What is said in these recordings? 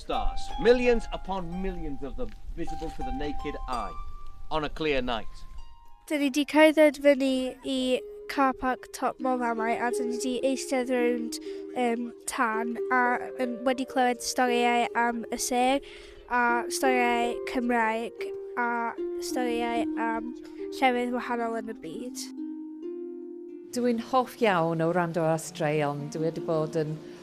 stars, millions upon millions of them visible to the naked eye on a clear night. Dyn ni 'di cerdded fyny i car park top mor amau a dyn ni 'di eistedd rownd um, tan a um, wedi clywed storïau am y sêr a storïau Cymraeg a storïau am llefydd wahanol yn y byd. Dw i'n hoff iawn o wrando ar straeon. Dwi wedi bod yn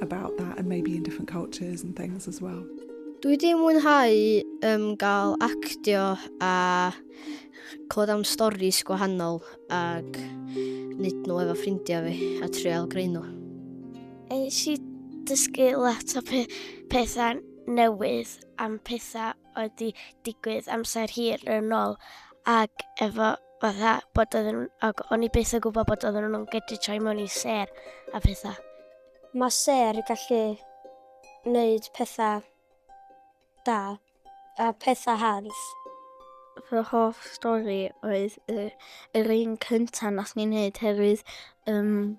about that and maybe in different cultures and things as well. Dwi wedi mwynhau um, gael actio a clod am storys gwahanol ac nid nhw efo ffrindiau fi a trial greu nhw. Eis i dysgu lot o pe pethau newydd am pethau oedd wedi digwydd amser hir yn ôl ac efo fatha bod oedden nhw'n... Ac o'n i byth yn gwybod bod oedden nhw'n gallu troi mewn i ser a pethau. Mae ser yn gallu wneud pethau da a pethau hardd. Fy hoff stori oedd y, yr un cynta nath ni wneud herwydd um,